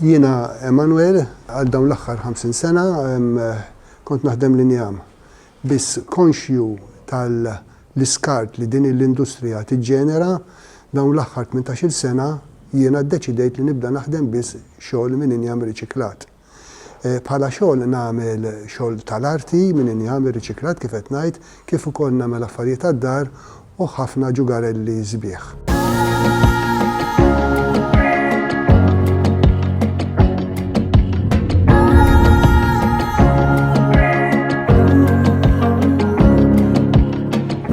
Jiena Emanuel, għal dawn l-aħħar 50 sena kont naħdem l-injam. Biss konxju tal-iskart li din l-industrija tiġġenera, dawn l-aħħar 18-il sena jiena ddeċidejt li nibda naħdem biss xogħol minn injam riċiklat. Bħala xogħol nagħmel xogħol tal-arti, minn injam, riċiklat kif qed ngħid, kif ukoll nagħmel affarijiet għad-dar u ħafna ġugarelli sbieħ.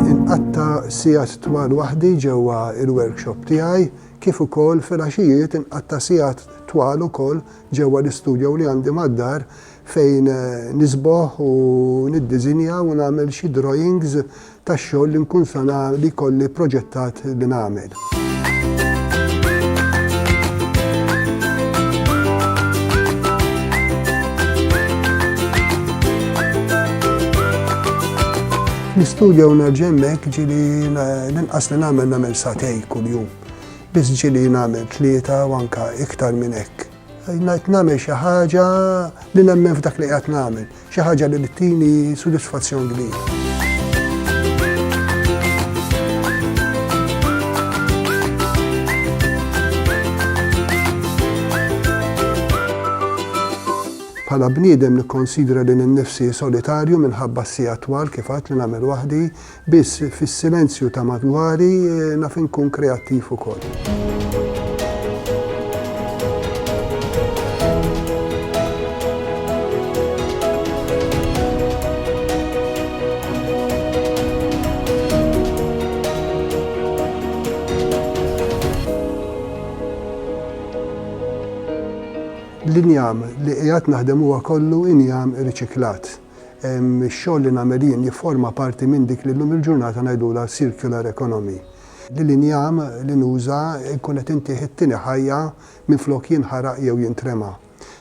Inqatta' sigħat twal waħdi ġewwa l-workshop tiegħi kif ukoll filgħaxijiet inqatta' sigħat twal ukoll Ġewwa l-istudio li għandi mad-dar fejn nisboħ u niddiżinja u nagħmel xi drawings tax-xogħol li nkun sa li jkolli proġettat li nagħmel. L-istudio u nerġa' hemmhekk ġieli l-inqas li nagħmel nagħmel sagħtejn kuljum. Biss ġieli nagħmel tlieta u anke iktar minn hekk. Ngħid nagħmel xi ħaġa li nemmen f'dak li qiegħed nagħmel, xi ħaġa li tini sodisfazzjon kbir. Bħala bniedem nikkonsidra lil innifsi solitarju minħabba s-siegħat twal kif għedt li nagħmel waħdi, Biss fis-silenzju ta' madwari naf inkun kreattiv ukoll. L-injam li qiegħed naħdem huwa kollu injam riċiklat. Ix-xogħol li nagħmel jien jifforma parti minn dik li llum il-ġurnata ngħidulha circular economy. Li l-injam li nuża nkun qed intih it-tieni ħajja minflok jinħaraq jew jintrema.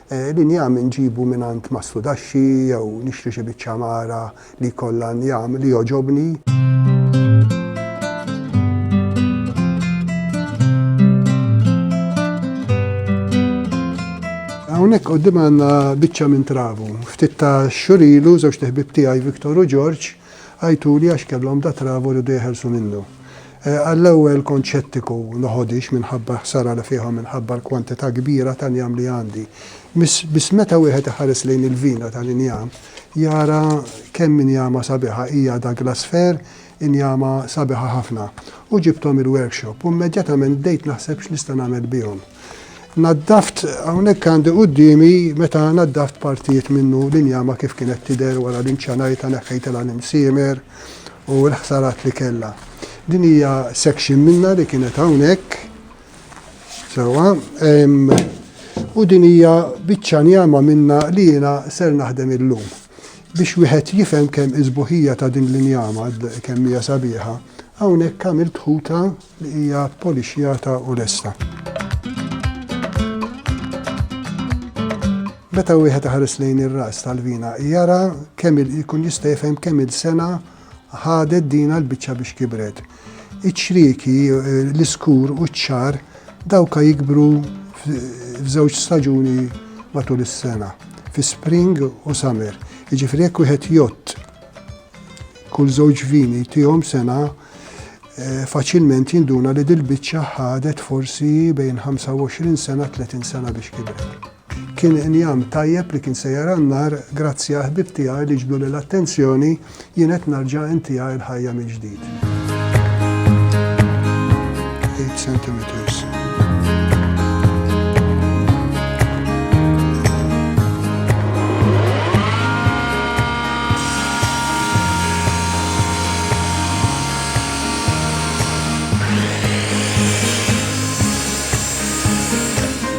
L-injam inġibu mingħand Mastrudaxxi jew nixtri xi biċċa mara li jkollha injam li jogħġobni. Hawnhekk qudiemna għandna biċċa minn travu. Ftit ta' xhur ilu żewġt iħbieb tiegħi Victor u George għajtuli għax kellhom da travu riedu jeħelsu minnu. Għall-ewwel kont xettiku, noħodhiex minħabba l-ħsara li fihom minħabba l-kwantità kbira tal-injam li għandi. Biss meta wieħed iħares lejn il-vina tal-injam jara kemm injama sabiħa hija Douglas Fir Injama sabiħa ħafna. U ġibthom il-workshop u immedjatament bdejt naħseb x'nista' nagħmel bihom. Naddaft hawnhekk għandi quddiemi meta naddaft partijiet minnu l-injama kif kienet tidher wara li nċanajtha neħħejtilha l-imsiemer u l-ħsarat li kellha. Din hija section minnha li kienet hawnhekk. Sewa, u din hija biċċa njama minna li jiena ser naħdem illum. Biex wieħed jifhem kemm iżbuħija ta' din l-injama kemm hija sabiħa, hawnhekk għamilt ħuta li hija polixjata u lesta. Meta wieħed ħares lejn ir-ras tal-vina jara kemm ikun jista' jifhem kemm il-sena ħadet dina l-biċċa biex kibret. Iċ-ċrieki, l-iskur u ċ-ċagħar dawka jikbru f'żewġ staġuni matul is-sena, fi spring u summer. Jiġifieri jekk wieħed jgħodd kull żewġ vini tihom sena, faċilment jinduna li dil-biċċa ħadet forsi bejn 25 sena, 30 sena biex kibret. Kien injam tajjeb li kien se jara n-nar, grazzi għal ħbieb tiegħi li ġbduli l-attenzjoni, jien qed narġa' intiegħi l-ħajja mill-ġdid. Eight centimeters.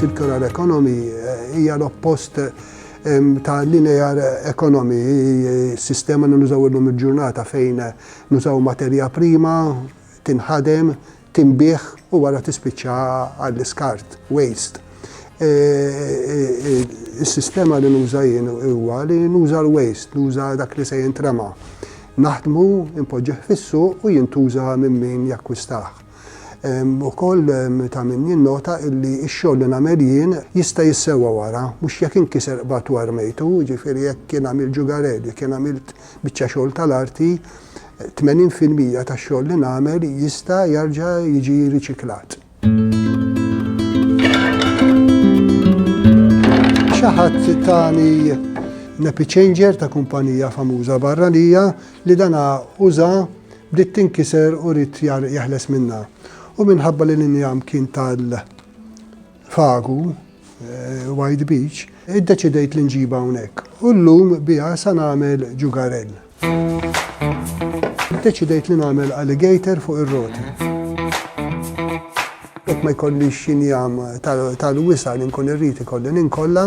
circular economy eh, hija l-oppost ta' linear economy, eh, sistema li nużaw illum il-ġurnata fejn eh, nużaw materja prima, tinħadem, tinbiegħ u wara tispiċċa għall-iskart, waste. Is-sistema li nuża jien huwa li nuża l-waste, nuża dak li se jintrema. Naħdmu, impoġġih fissu u jintuża minn min jakkwistaħ. Ukoll ta' min jinnota illi x-xogħol li nagħmel jien jista' jissewwa wara, mhux jekk inkiser qbadtu u armejtu, jiġifieri jekk jien għamilt ġugarell, jekk jien għamilt biċċa xogħol tal-arti, 80 fil-mija tax-xogħol li nagħmel jista' jarġa' jiġi riċiklat. Xi ħadd tani nepiċenġer ta' kumpanija famuża barranija li dana uża bdiet tinkiser u rid jeħles minnha. U minħabba li l-injam kien tal-fagu, White Beach, iddeċidejt li nġibha hawnhekk u llum biha sa nagħmel ġugarell. Iddeċidejt li nagħmel alligator fuq ir-roti. Jekk ma jkollix xinjam tal-wisa li nkun irrid ikolli ninkolla.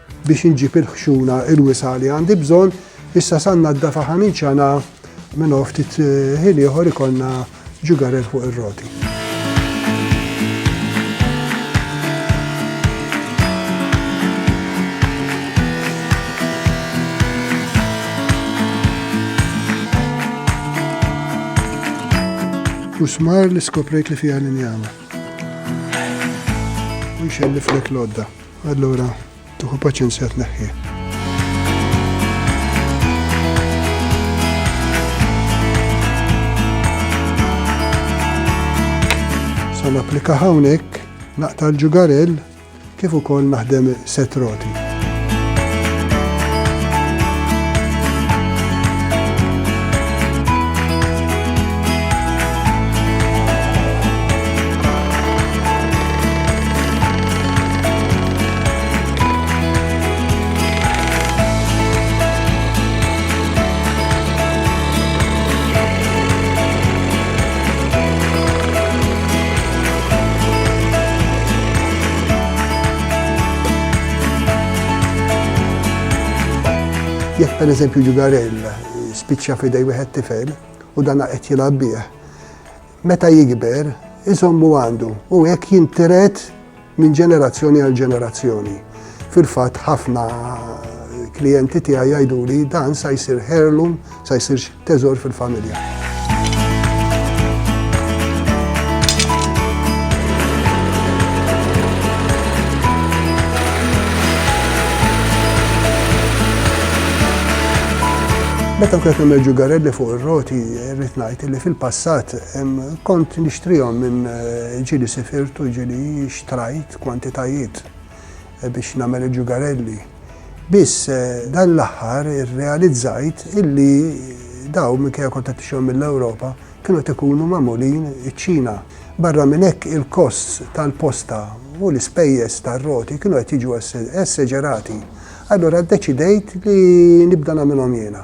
biex inġib il-ħxuna il-wisa' li għandi bżonn, issa sa nnaddafa ħa ninċana minn hawn ftit ħin ieħor ikollna ġugarel fuq ir-roti. U smar li skoprejt li fiha l-injama. U nxelliflek l-għodda. Allura tieħu paċenzja tneħħih. Sa napplika hawnhekk naqta' l-ġugarell kif ukoll naħdem set roti. Jekk per eżempju ġugarell spiċċa f'idej wieħed tifel u dan qed jilgħab bih, Meta jikber, iżommu għandu u hekk jintiret minn ġenerazzjoni għal ġenerazzjoni. Fil-fatt ħafna klijenti tiegħi jgħiduli dan sa jsir heirloom, sa jsir teżor fil-familja. Meta kienet emerġu garelli fuq ir-roti, Irrid ngħid illi fil-passat kont nixtrihom minn ġieli sifirt u ġieli xtrajt kwantitajiet biex nagħmel il-ġugarelli. Biss dan l-aħħar irrealizzajt illi dawn minkejja kont qed nixtrihom mill-Ewropa kienu qed ikunu magħmulin iċ-Ċina. Barra minn hekk il-kosts tal-posta u l-ispejjeż tar-roti kienu qed jiġu esseġerati. Allura ddeċidejt li nibda nagħmilhom jiena.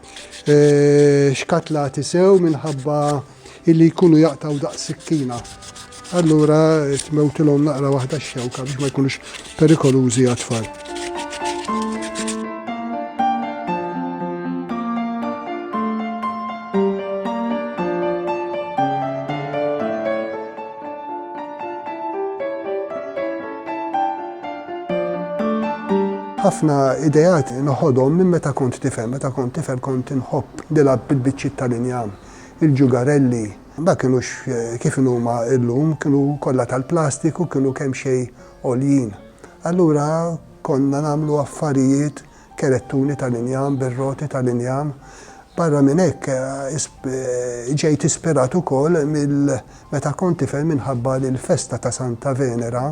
xkatlati sew minħabba illi jkunu jaqtgħu daqs sikkina. Allura tmewtilhom naqra waħda x-xewka biex ma jkunux perikolużi għat-tfal. ħafna idejat noħodhom minn meta kont tifel. Meta kont tifel kont inħobb nilgħab bil-biċċiet tal-injam, il-ġugarelli. Ma kinux eh, kif huma illum, kienu kollha tal-plastiku, kienu kemm xejn għoljin. Allura konna nagħmlu affarijiet kerettuni tal-injam bir-roti tal-injam. Barra minn hekk, ġejt ispirat ukoll minn meta kont tifel minħabba li l-festa ta' Santa Venera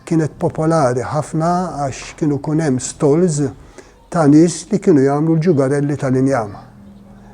kienet popolari ħafna għax kienu jkun hemm stalls ta' nies li kienu jagħmlu l-ġugarelli tal-injam.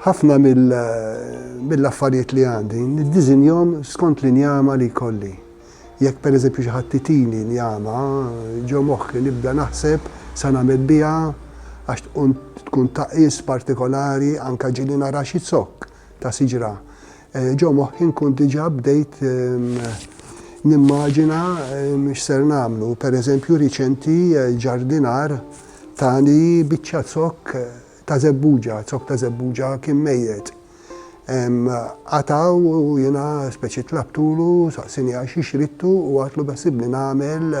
ħafna mill-affarijiet li għandi, niddizinjom skont li njama li kolli. Jekk per eżempju xi ħadd titini njama, ġo moħħi nibda naħseb sa nagħmel biha għax tkun taqis partikolari anka ġili nara xi zokk ta' siġra. Ġo moħħi nkun diġà bdejt nimmaġina x'ser nagħmlu. Pereżempju riċenti l-ġardinar tani biċċa zokk ta' żebbuġa, zokk ta' żebbuġa kien mejjet. Qatgħu u jiena speċi tlabtulu, saqsieni għax xi xridtu u għadtlu beħsibni nagħmel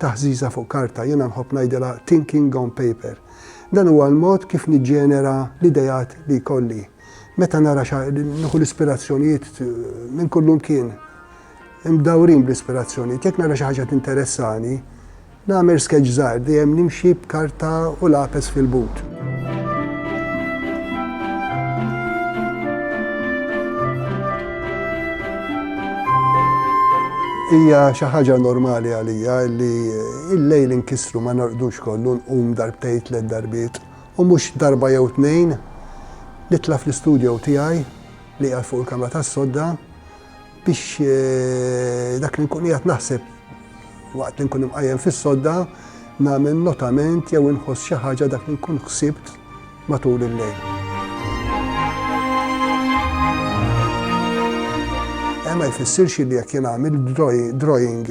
Taħżiża fuq karta, jiena nħobb ngħidilha thinking on paper. Dan huwa l-mod kif niġġenera l-ideat li jkolli. Meta nara xa nieħu l-ispirazzjonijiet minn kullu mkien. Imdawrin bl-ispirazzjonijiet, jekk nara xi ħaġa tinteressani, nagħmel sketch żgħar dejjem nimxi b'karta u lapes fil-but. Hija xi ħaġa normali għalija li l-lejl inkissru ma norqdux kollu nqum darbtejn tliet darbiet u mhux darba jew tnejn nitla' fl-istudjow tiegħi li qiegħed fuq il-kamra tas-sodda Biex dak li nkun qiegħed naħseb waqt li nkun imqajjem fis-sodda nagħmel notament jew inħoss xi ħaġa dak li nkun ħsibt matul il-lejl. Ma jfissirx li jekk jien għamil drawing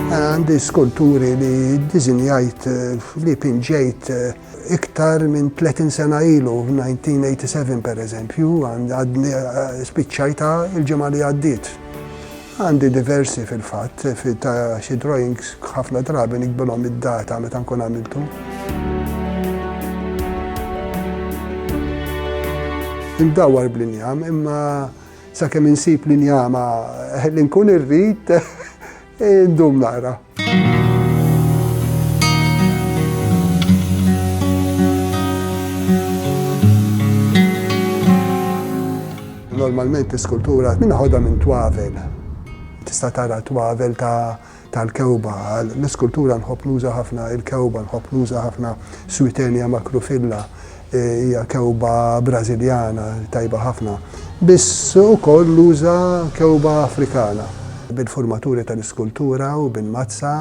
Għandi skulturi li diżinjajt li pinġejt iktar minn 30 sena ilu, 1987 per eżempju, għadni spiċċajta il-ġimgħa li għaddiet. Għandi diversi fil-fatt, ta' xi drawings ħafna drabi nikbilhom id-data meta nkun għamiltu. indawar bl-injam, imma sakemm insib l-injama li nkun irrid Indum naqra. Normalment iskultura minn ħodha minn twavel. Tista' tara twavel ta' tal-kewba. L-iskultura nħobb nuża ħafna il-kewba, nħobb nuża ħafna switenja makrufilla. Hija kewba Brażiljana tajba ħafna, biss ukoll uża kewba Afrikana. Bil-furmaturi tal-iskultura u bil-mazza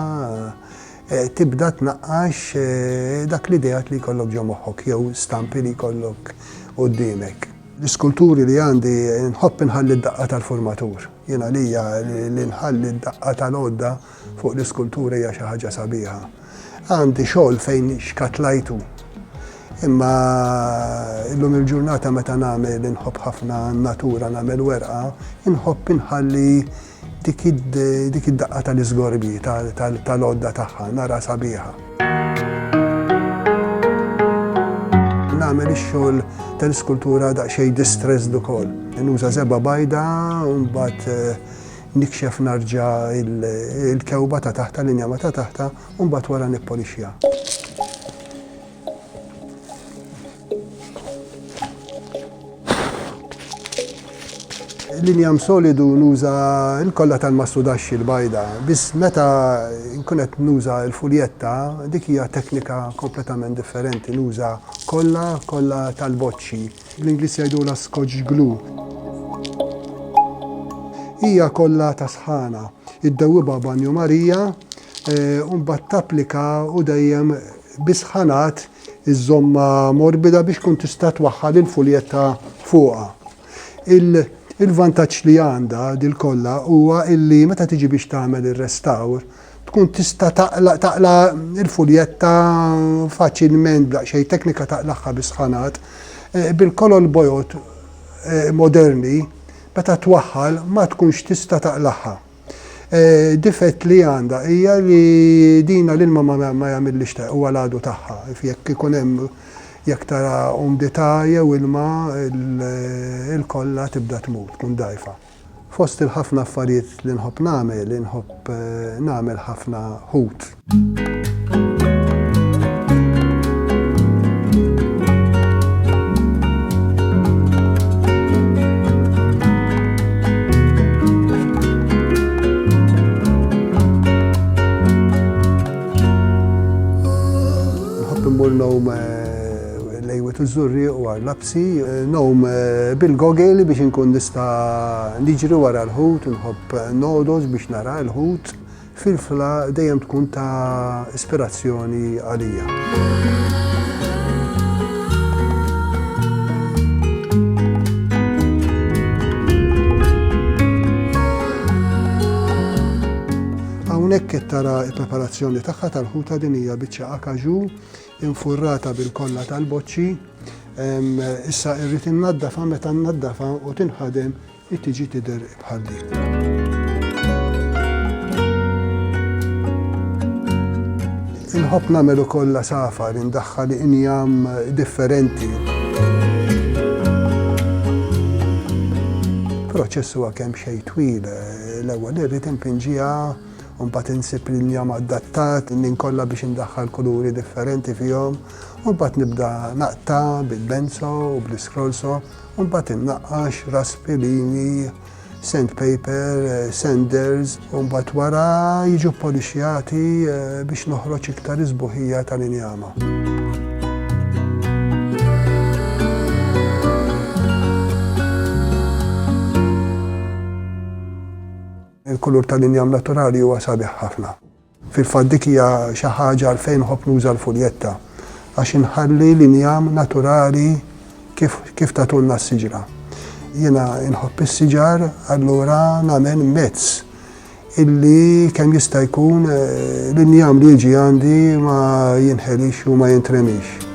tibda tnaqqax dak l-ideat li jkollok ġo moħħok jew stampi li jkollok quddiemek. L-iskulturi li għandi nħobb inħalli d-daqqa tal-furmatur. Jien għalija li nħalli d-daqqa tal-għodda fuq l-iskultura hija xi ħaġa sabiħa. Għandi xogħol fejn xkatlajtu. Imma illum il-ġurnata meta nagħmel inħobb ħafna natura nagħmel werqa, inħobb inħalli dik id-daqqa tal-iżgorbi tal-odda tagħha nara sabiħa. Nagħmel ix-xogħol tal-iskultura daqsxejn distressed ukoll. Nuża żebgħa bajda u mbagħad eh, Nikxef narġa' il-kewba ta' taħt tal-injama ta' taħtha u mbagħad wara nippolixxiha. L-injam solidu nuża l-kollha tal-mastudaxxi l-bajda, biss meta nkun qed nuża l-fuljetta dik hija teknika kompletament differenti, nuża kollha kollha tal-boċċi. Bl-Ingliż jgħidulha Scotch glue. Hija kollha ta' sħana. Iddewwibha banju Marija u mbagħad tapplika u dejjem bi sħanat iżżommha morbida biex tkun tista' twaħħal il-fuljetta fuqha. Il-vantaġġ li għandha dil kollha huwa illi meta tiġi biex tagħmel ir-restawr, tkun tista' taqla' taqla' il-fuljetta faċilment b'daqsxejn teknika taqlagħha bis-sħanat. Bil-kolol bojod moderni meta twaħħal ma tkunx tista' taqlagħha. Difett li għandha hija li dina l-ilma ma jagħmillhiex ta' huwa l-għadu tagħha. Jekk ikun hemm jekk tara umdità jew ilma il-kolla tibda tmur, tkun dgħajfa. Fost il-ħafna affarijiet li nħobb nagħmel, inħobb nagħmel ħafna ħut. Nħobb immur ngħum lejwiet u żurrieq u għarlab. Anzi, ngħum bil-gogeli biex inkun nista' niġri wara l-ħut, nħobb nogħdos biex nara l-ħut, filfla dejjem tkun ta' ispirazzjoni għalija. Hawnhekk qed tara l-preparazzjoni tagħha tal-ħuta, din hija biċċa akaġu. infurrata bil-kolla tal-boċċi, issa irrid innaddafa meta nnaddafa u tinħadem tiġi tidher bħal din. Inħobb nagħmel ukoll safa li ndaħħal injam differenti. Proċess huwa kemm xejn twil, l-ewwel irrid impinġiha u mbagħad insib l-injam adattat, ninkolla biex indaħħal kuluri differenti fihom, u mbagħad nibda naqta' bil-benzo u bl-iskrolso, u mbagħad innaqqax raspi, linji, sandpaper, sanders, u mbagħad wara jiġu ppolixxjati biex noħroġ iktar is-sbuħija tal-injama. Il-kulur tal-injam naturali huwa sabiħ ħafna. Fil-fatt dik hija xi ħaġa għalfejn nħobb nuża l-fuljetta, għax inħalli l-injam naturali kif kif tagħtulna s-siġra. Jiena nħobb is-siġar allura nagħmel mezz illi kemm jista' jkun l-injam li jiġi għandi ma jinħelix u ma jintremix.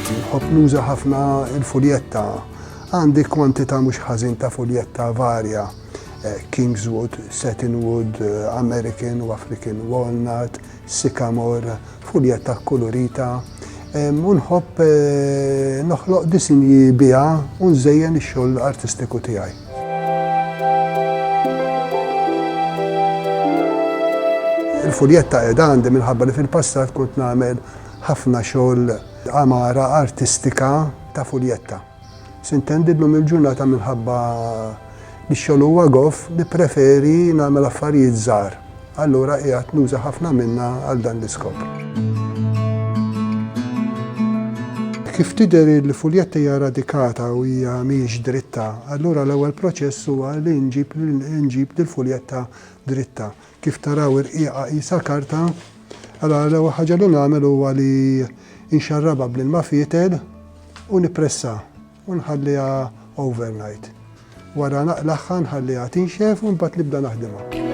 Nħobb nuża ħafna l-fuljetta. Għandi kwantità mhux ħażin ta' fuljetta varja, eh, Kingswood, Satinwood, eh, American u African Walnut, Sycamore, fuljetta kkulurita. U nħobb eh, noħloq disinji biha u nżejjen ix-xogħol artistiku tiegħi. Il-fuljetta qiegħda għandi minħabba li fil-passat kont nagħmel Ħafna xogħol għamara artistika ta' fuljetta sintendi llum il-ġurnata minħabba li x-xogħol huwa goff nippreferi nagħmel affarijiet żgħar. Allura qiegħed nuża ħafna minnha għal dan l-iskop. Kif tidher il-fuljetta hija radikata u hija mhijiex dritta, allura l-ewwel proċess huwa li nġib nġib lill-fuljetta dritta. Kif taraw ir-rqieqa qisha karta. Allura l-ewwel ħaġa li nagħmel huwa li nxarrabha bl-ilma fietel u nippressa u nħalliha overnight. Wara naqlagħha nħalliha tinxef u mbagħad nibda naħdimha.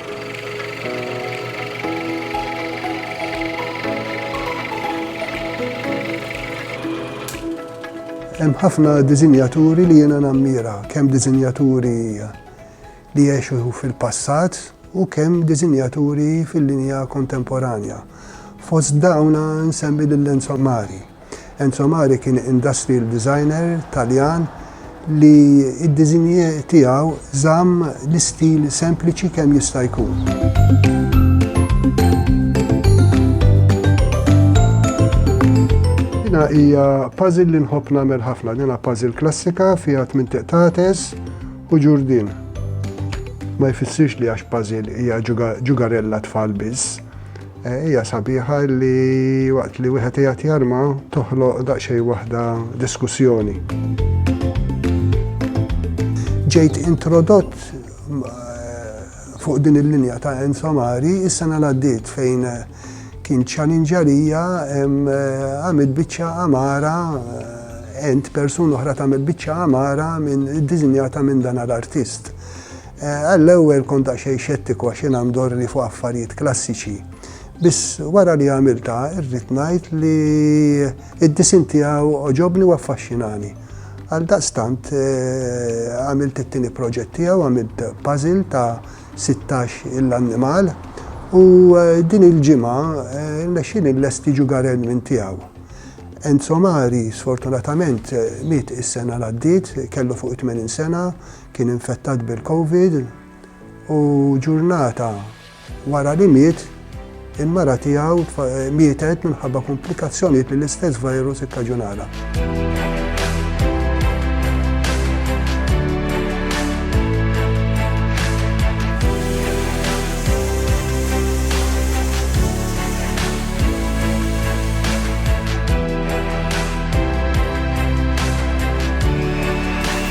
Hemm ħafna diżinjaturi li jiena nammira, kemm diżinjaturi li jgħixu fil-passat u kemm diżinjaturi fil-linja kontemporanja. Fost dawna nsemmi lil Enzo Mari. Enzo Mari kien industrial designer Taljan li d-diżinji tiegħu żamm l-istil sempliċi kemm jista' jkun. Dina hija puzzle li nħobb nagħmel ħafna. Dina puzzle klassika fiha tmien tiqtates u ġurdin. Ma jfissirx li għax puzzle hija ġugarella tfal biss. Hija sabiħa li waqt li wieħed qiegħed jarma toħloq daqsxejn waħda diskussjoni. Ġejt introdott fuq din il-linja ta' Enzo Amari is-sena li għaddiet fejn kien ċalinġa lija għamilt biċċa amara ent persuna oħra tagħmel biċċa amara minn iddiżinjata minn dan l-artist. Għall-ewwel kont daqsxejn xettiku għax jiena ndorrni fuq affarijiet klassiċi. Biss wara li għamiltha rrid ngħid li d-disinn tiegħu għoġobni u affaxxinani. Għaldaqstant għamilt it-tieni proġett tiegħu, għamilt puzzle ta' sittax il-annimal u din il-ġimgħa rnexxieli nlesti Jugar Edmund tiegħu. Enzo Mari sfortunatament miet is-sena l għaddiet, kellu fuq it-tmenin sena, Kien infettat bil-Covid u ġurnata wara li miet, il-mara tiegħu mietet minħabba komplikazzjonijiet li l-istess virus ikkaġunala.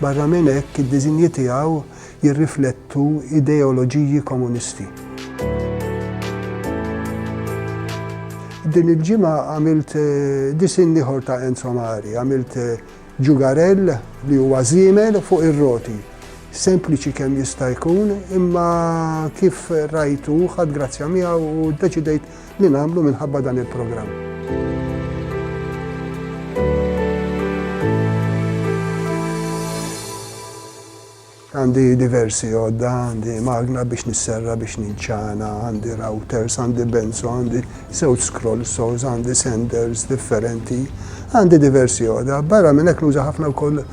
Barra minn hekk, id-diżinji tiegħu jirriflettu ideoloġiji komunisti. Din il-ġimgħa għamilt disinn ieħor ta' Enzo Mari, għamilt ġugarell li huwa żiemel fuq ir-roti. Sempliċi kemm jista' jkun, imma kif rajtu ħadd grazzja miegħu u ddeċidejt li nagħmlu minħabba dan il-programm. Għandi diversi għodda, għandi magna biex nisserra biex ninċana, għandi routers, għandi benzo, għandi sewt scroll saws, għandi senders differenti, għandi diversi għodda. Barra minn hekk nuża ħafna wkoll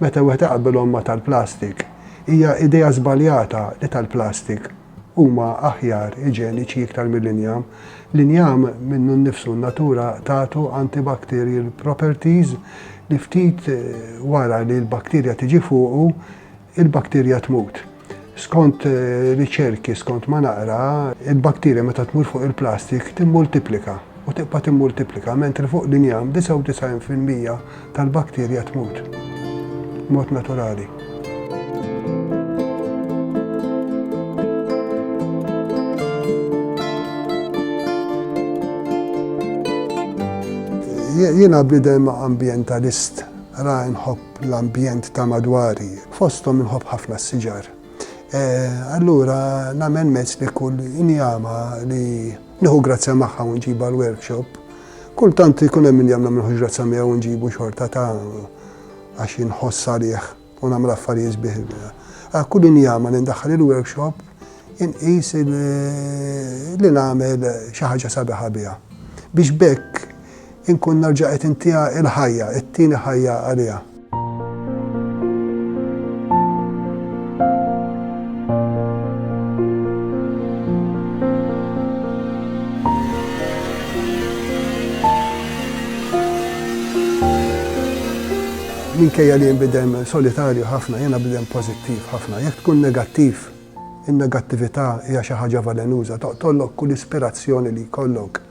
meta wieħed iqabbelhom ma' tal-plastik, hija idea żbaljata li tal-plastik huma aħjar, iġeniċi iktar mill-injam. L-injam minnu nnifsu n-natura tagħtu antibacterial properties li ftit wara li l-bakterja tiġi fuqu, il-bakterja tmut. Skont riċerki, skont ma naqra, il-bakterja meta tmur fuq il-plastik timmultiplika u tibqa' timmultiplika, mentri fuq l-injam 99 fil-mija tal-bakterja tmut b'mod naturali. Jiena bniedem ambjentalist, ra nħobb l-ambjent ta' madwari, fosthom inħobb ħafna s-siġar. E, allura nagħmel mezz li kull injama li nieħu grazzja magħha u nġibha l-workshop, kultant ikun hemm injam nagħmel ħuġ grazzja miegħu u nġibu xorta ta' għax inħoss għalih u nagħmel affarijiet bih. Kull injama li ndaħħal il-workshop inqis li nagħmel xi ħaġa sabiħa biha. Biex bekk inkun nerġa' qed intiha l-ħajja, it-tieni ħajja għaliha. Minkejja li jinbidem solitarju ħafna, jiena bidem pożittiv ħafna. Jekk tkun negattiv, in-negattività hija xi ħaġa valenuża, toqtollok kull ispirazzjoni li jkollok.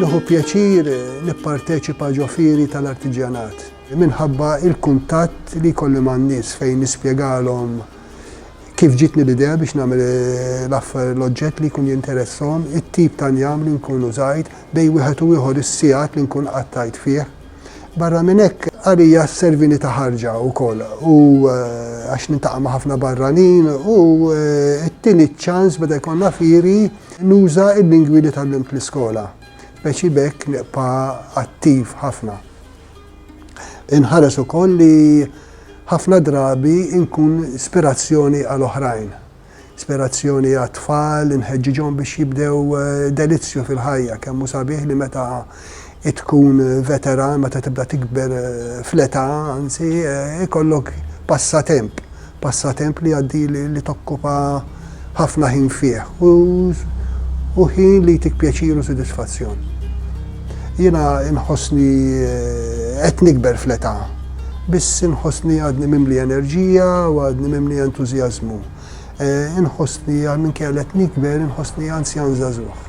Nieħu pjaċir nipparteċipa ġo fieri tal-artiġjanat minħabba l-kuntatt li jkolli man-nies fejn nispjegalhom kif ġitni l-idea biex nagħmel eh, l-affer l-oġġett li jkun jinteressom, it-tip ta' njam li nkun użajt, bej wieħed u ieħor is-sigħat li nkun qattajt fih. Barra minn hekk, għalija servini ta' ħarġa wkoll u eh, għax nintaqa' ma' ħafna barranin u eh, t-tieni ċans beda jkollna firi nuża il-lingwi li tal l-iskola. Beċi bekk nibqa' attiv ħafna. Inħares ukoll li ħafna drabi inkun ispirazzjoni għal oħrajn. Ispirazzjoni għat-tfal, inħeġġiġhom biex jibdew delizzju fil-ħajja. Kemm hu sabiħ li meta tkun veteran, meta tibda tikber fl-età, anzi, ikollok passatemp, passatemp li jgħaddi li tokkupa ħafna ħin fih u ħin li jtik pjaċir u sodisfazzjon. Jiena nħossni qed nikber fl-età. biss inħossni għadni mimli enerġija u għadni mimli entużjażmu. Eh, inħossni għal minn kellet nikber, inħossni anzjan zazuħ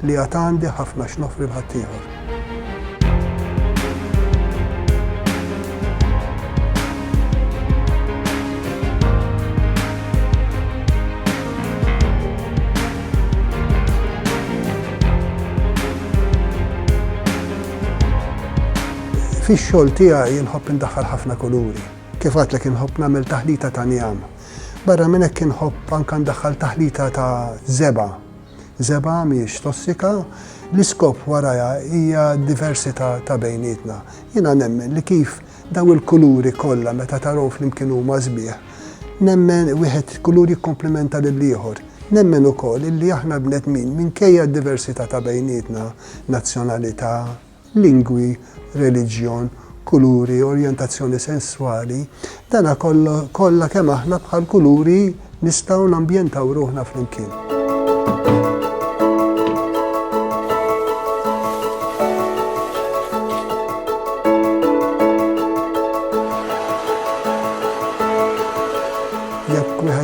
li għad għandi ħafna x'nofri l-ħaddieħor. Fix-xogħol tiegħi inħobb indaħħal ħafna kuluri. Kif għedtlek inħobb nagħmel taħlita ta' njam. Barra minn hekk inħobb anke ndaħħal taħlita ta' żebgħa. Żebgħa mhijiex tossika, l-iskop warajha hija d-diversità ta' bejnietna. Jiena nemmen li kif dawn il-kuluri kollha meta tarahom flimkien huma sbieħ, nemmen wieħed kulur jikkomplimenta lill-ieħor. Nemmen ukoll illi aħna bnedmin minkejja d-diversità ta' bejnietna, nazzjonalità, lingwi, reliġjon, kuluri, orjentazzjoni sesswali, dana kollu kollha kemm aħna bħal kuluri nistgħu nambjentaw ruħna flimkien.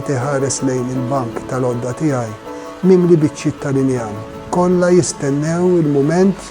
qed iħares lejn il-bank tal-għodda tiegħi mimli biċċiet tal-injam. Kollha jistennew il-mument